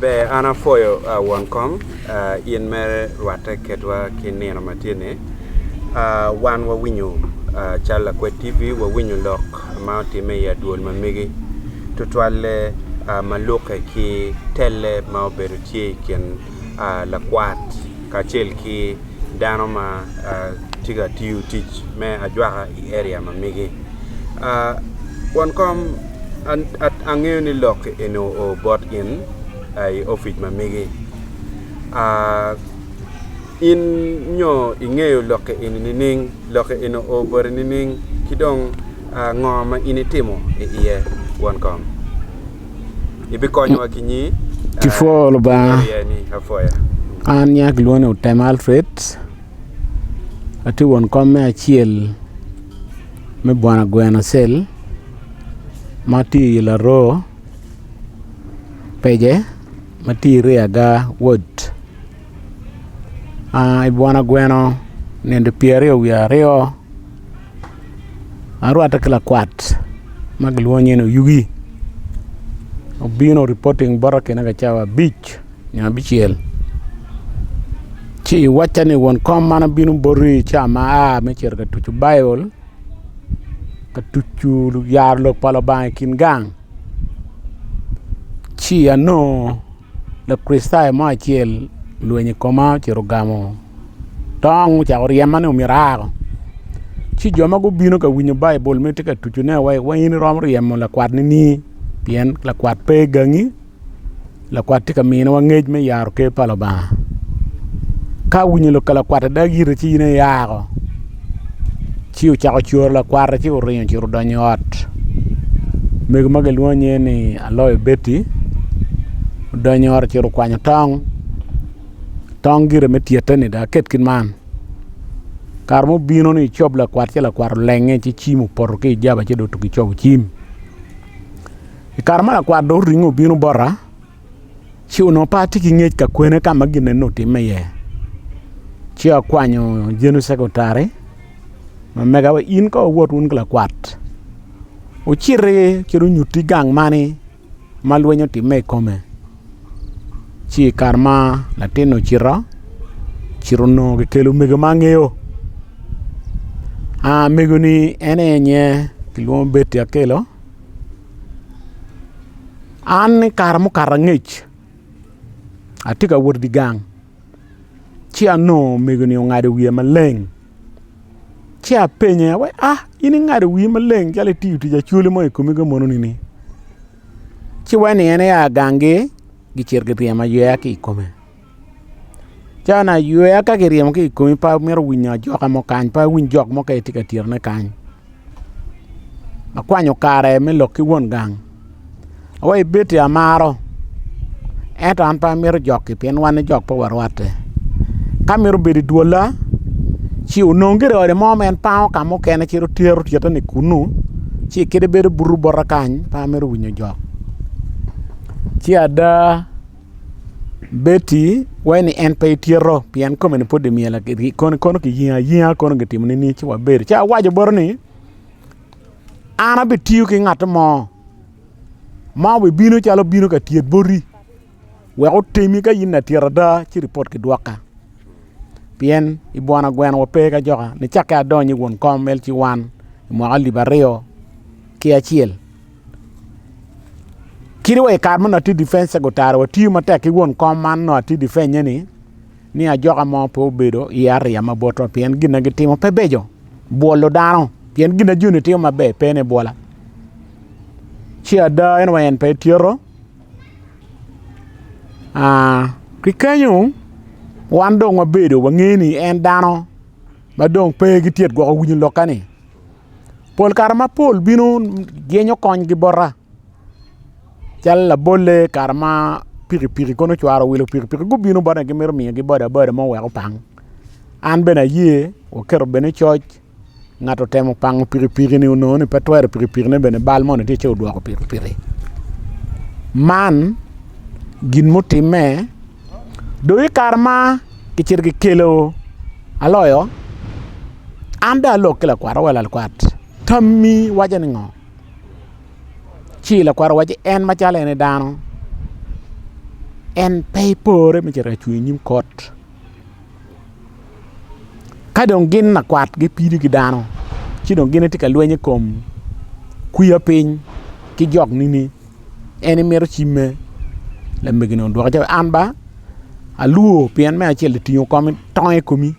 Ber an apwoyo won kom in mere rwatte ketwa ki nino ma tye ni. Wan wa winyo calo lakwed TV wa winyo lok ma otime i adwol ma megi tutwalle ma lukke ki telle ma obedo tye i kin lakwat kacel ki dano ma tye ka tiyo tic me ajwaka i area ma mege won kom angeyo ni lok eni oo bot gin i opic ma mege in nyo ingeyo lok eni nining lok eni oo boti nining ki dong ngo ma in itimo i iye won kom. Kipwoo lubanga an nyinga kilwongo ni otem Alfred atye won kom me acel me bwana gweno cell ma tye i laroo pece ma tye i reya ga wod i bwana gweno nende pyeraryo wiye aryo. arwatte ki lakwat ma kilwongo nying ni Oyugi obino ripoting bota kine ka cawa abic nyo abicel ci iwacca ni won kom man abino boti i cawa ma a me cito ka tucu Baibul ka tucu yaro Lok pa Lubanga i kin gang ci anongo Lakricitayo mo acel olwenyo i koma ocito ogamo tong ocako ryema ni myero aa ko. Ci jo ma gubino ka winyo Baibul ma itye ka tucone wa iye wai in iromo ryemo lakwat nini pien lakwat pe i gangi lakwat tye ka miniwa ngec me yaro ker pa Lubanga. Ka awinyo ka lakwat adagi ite ci in aye ia ko. Ci ocako curo lakwate ci oringo ocito odonyo i ot mego ma kilwongo nyinge ni Aloyo Beti odonyo i ot ocito okwanyo tong, tong gire me tyeteni dong aket ki man kare ma obino ni ecob lakwat ci lakwat olenge ci cim opoto ki ijaba ci dong otugo icobo cim. I kare ma lakwat dong oringo obino bota Ci onongo pe atye ki ngec ka kwene ka ma ginne ni otimme iye. Ci akwanyo Jenu cekretari ma mega wa, in ka wot wun ki lakwat wuciti ci wunyutti gang mani ma lweny otimme i kome. Ci i kare ma latin-ni ocito, ocito onongo kikelo omego ma angeyo, omego-ni en aye kilwongo ni Betty Akello. An ni kare mukato angec atye ka wot idye gang ci anongo omego-ni ongado wiye maleng ci apenye ni a in ingado wii maleng calo itiyo tic acholi mo i komi ka moni ni ci weno en aye aa gangi gicito giryemo ayweya ki i kome. Can aywer ka kiryemo ki i komi pe amito winyo ajoka mo kany pe awiny jok mo ka itye ka tyerone kany akwanyo kare me lok ki won gang wa i Betty amaro ento an pe amito jok-ki pien wan jok pe warwatte ka mito bedo i dwolla ci onong gire ode mo ma en pango ka mukene ci tero tyeteni kunnu ci kite bedo buto bota kany pe amito winyo jok ci ada. Betty waci ni en pe itito pien kome ni pud dong myel kono kiyingo ayinga kono kitimo ni ci wabedo ci awaco botto ni an abitiyo ki ngat mo ma obibino calo obino ka tyet boti wek otemi ka in latit ada ci ripot kidwoka pien i bwona gweno wape ki ajoka nicakke adonyo i wun kom LC1 mwaka alip aryo ki acel. Kadi wa i kare ma onongo atye difence secretary watiyo matek ki won kom man nongo atye difenye ni ni ajoka mo pe obedo i aria ma botwa pien gin ma gitimo pe beco bwolo dano pien gin ma joni timo maber pe ni bwola ci ada en wa en pe tyeko ki kenyo wan dong wabedo wangeyo ni en dano ma dong pe gitye ka gwoko winyo lokane. pol kare mapol bino yenyo konygi bota calo labolle kare ma pikipiki kono ocwaro owilo pikipiki gubino botone gimito miyogi bodaboda mo wek opang an bene aye waketo bed ni coc ngat otemo pango pikipiki ni onongo ni pe twero pikipiki ne bene bal moni tye ci odwoko pikipiki man gin mutimme Dong i kare ma kicito kikelo aloyo an dong alok ki lakwat awoki lakwat tammi waco ni ngo? Ci lakwat owaco ni en macalo en dano en pe ipore me cito ka cung inyim kot ka dong gin lakwat gipido ki dano ci dong gin gitye ka lweny i kom kwiyo piny ki jok nini. En imito cimme lamegeni odwoke ni an ba alwo pien me acel otingo tong i komi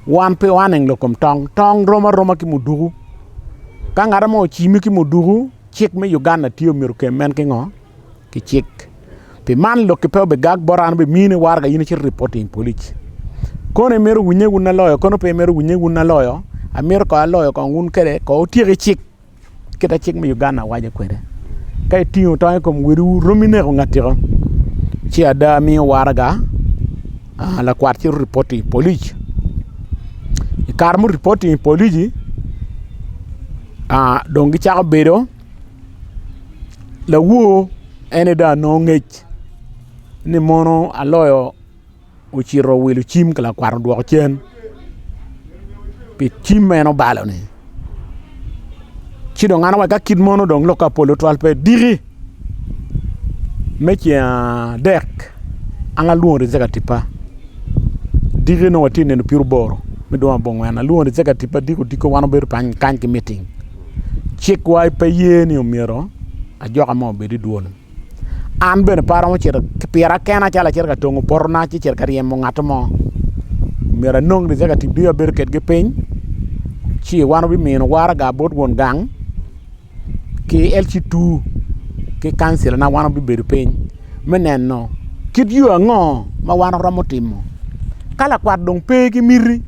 wan pe waneno lakom tong, tong rom aroma ki muduku ka ngat mo ocimi ki muduku cik me Uganda tye myero okem en ki ngo ki cik pi man lok pe obigag bota an obimine warrga in icit iripoti i polic kono imito winye wun aloyo kono pe imito winye wun aloyo amito ko aloyo kong wun kede ko wutyek ki cik. kita cik me Uganda waco kwede. Ka itingo tong i kom wediwu, romi neko ngatiko. Ci ada miyo waraga ah, lakwat ci ripoti i polic. I kare muripoti i polici, ah, dong gicako bedo lawo ene dong anongo ngec ni mono aloyo ocito owilo cim ka lakwat odwoko cen pi cim ma en obalo ni ci dong an awaco ka kit mono dong lok ka polo twal pe diki me ceng adek an alwongo rijek atipa diki nongo watye neno pyer oboro me dwong abongwen alwongo rijek atipa diki odiko wan wabedo kany ki miting cikwa pe ye ni omyero ajoka mo obed idwol An bene pe aromo cito ki pira kena calo acito ka tongo potona ci cito ka ryemo ngat mo myero anong ni calo katibgi abedo kedgi piny ci wan wabimino waraga bot won gang ki LC two ki kancilana wan wabibedo piny me neno kit yo ango ma wan waromo timo ka lakwat dong pe ki miti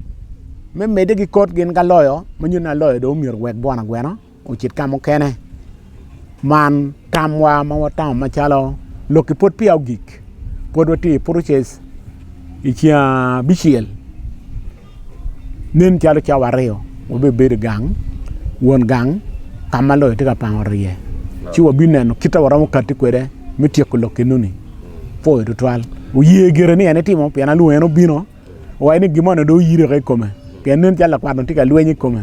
me medde ki kot gin ka loyo ma nyuto ni aloyo dong myero owek gwana gwena. ocit ka mukene. Man tamwa ma watamo macalo lok ki pwod peya ogik. Pwod watye i process i ceng abicel nen calo cawa aryo wabibedo i gang, won gang ka ma loyo tye ka pango ryeye ci wabineno kit ma waromo kati kwede me tyeko lok enoni. Apuyo tutwal. Wuye gire ni en itimo pien alwongo en obino. Awaco ni gin mo dong oyiri woko i kome pien nen calo lakwat tye ka lweny i kome.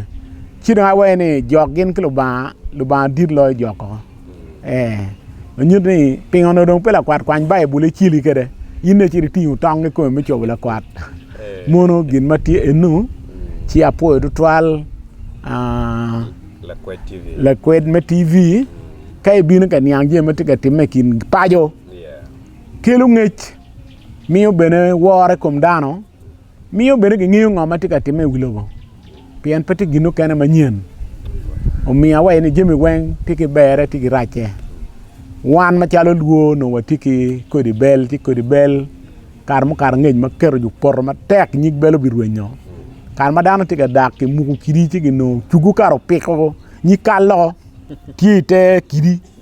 Ci dong awaco ni jok gin ki Lubanga, Lubanga dit loyo jok koko. Ee, onyut ni pingo onongo dong pe lakwat kwany Baibul icili kwede, in dong icit itingo tong i kome me cobo lakwat. Mono gin ma tye eno, ci apwoyo tutwal aa, Lakwed TV. lakwed me TV. Ka ibino ka niang jami ma tye ka timme i kin paco, Yeah. kelo ngec. miyo bene woro i kom dano miyo bene gingeyo ngo ma tye ka timme i wi lobo pien pe tye gin mukene manyen omiyo awaci ni jami weng tye ki berre tye ki racce wan macalo lwor onongo watye ki kodi bel ci kodi bel kare mukato ngec ma keto i opoto matek nyig bel obirwenyo kare ma dano tye ka dak kimuko kidi ci ginongo cugu kare opiko nyig kallo tye ite kidi.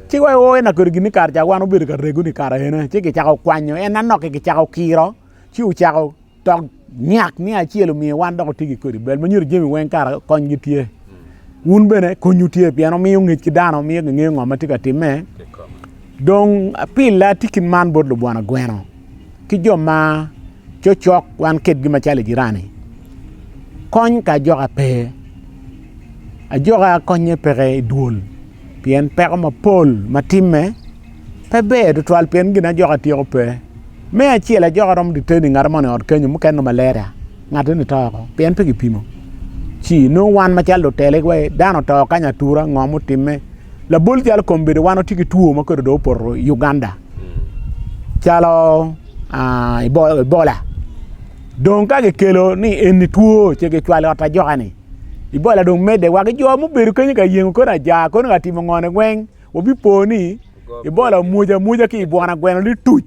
Ci wa iwo en akedo gin ni kare ca wan obedo ka rego ni kara ena ci kicako kwanyo en anoki kicako kiro ci ocako tok nyak ni acel omiyo wan dok otigi kodi bel manyuto jemi weng kara kony gi tye wun bene konyu tye pien omiyo ngec ki dano omiyo gingeyo ngo ma tye ka timme dong pila tikin man bot lubwana gweno ki jo ma cocok wan kedgi macalo i jirani kony ka ajoka pe ajoka konye peke i dwol Pien peko mapol ma timme pe ber tutwal pien gin ajoka tyeko pe. Me acel ajoka romo diteni ngat moni ot kenyo mukene malaria ngat ni to oko pien pe gipimo. Ci nung wan macalo lutele wa dano to kanya atura ngo mutimme. Labol jalo kombedo wan otye ki two ma kwedo do opoto i Uganda. Calo uh, Ebola. Dong ka gikelo ni eni two ce gicwalo ot ajoka ni. ibola dong medde wa ki jo ma obedo kenyo ka yengo koni aja koni ka timo ngone weng wabipo ni ibola omwoja mwoja ki ibwana gweno lituc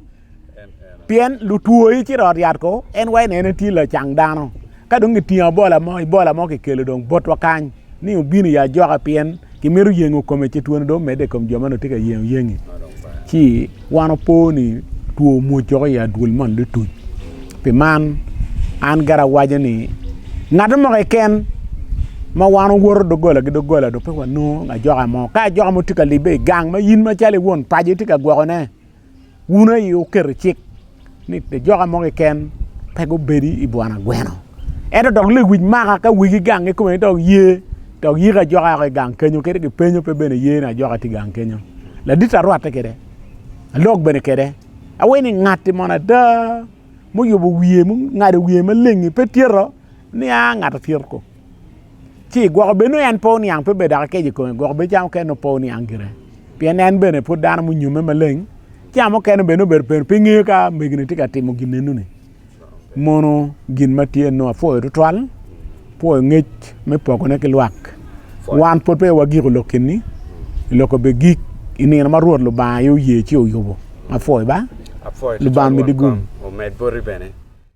pien lutwo ci rot yat ko en wa ene tye lacang dano ka dong kitingo abola mo ibola mo kikelo dong botwa kany ni obino ya ajoka pien kimito yengo kome ci twone dong omedde i kom jo ma onongo tye ka yengo yengi ci wan opo ni two omwoc woko i adwol man dutuc pi man an gara awaco ni ngat mo keken ma wan owoto doggola ki doggola dong pe wanongo ajoka mo ka ajoka mo tye ka libbe i gang ma in macalo iwon paco itye ka gwokone wun aye wuketo cik ni lajoka mo keken pe gubedi i bwanagweno. Ento dok lewic maka ka wigi gang ki kome dok ye dok yiko ajoka yako i gang kenyo kadi kipenyo pe bene ye ni ajoka tye i gang kenyo. Ladit arwatte kwede, alog bene kwede, awaci ni ngatti mono ada muyubo wiye mungado wiye maleng-ngi pe tyeko ni a ngat acel-ku. ci gwoko bed nongo en pe oniang pe bed dok keco i kome gwoko bed cam mukene nongo pe oniang gire pien en bene pud dano munyome maleng cam mukene bene obedo penu pe ngeyo ka megine tye ka timo gin enoni mono gin ma tye nongo apwoyo tutwal apwoyo ngec me pokone ki lwak wan pud peya wagiko lok keni lok obe gik i nino ma Rwot Lubanga aye oye ci oyubo apwoyo ba Lubanga omedi gung omed boti bene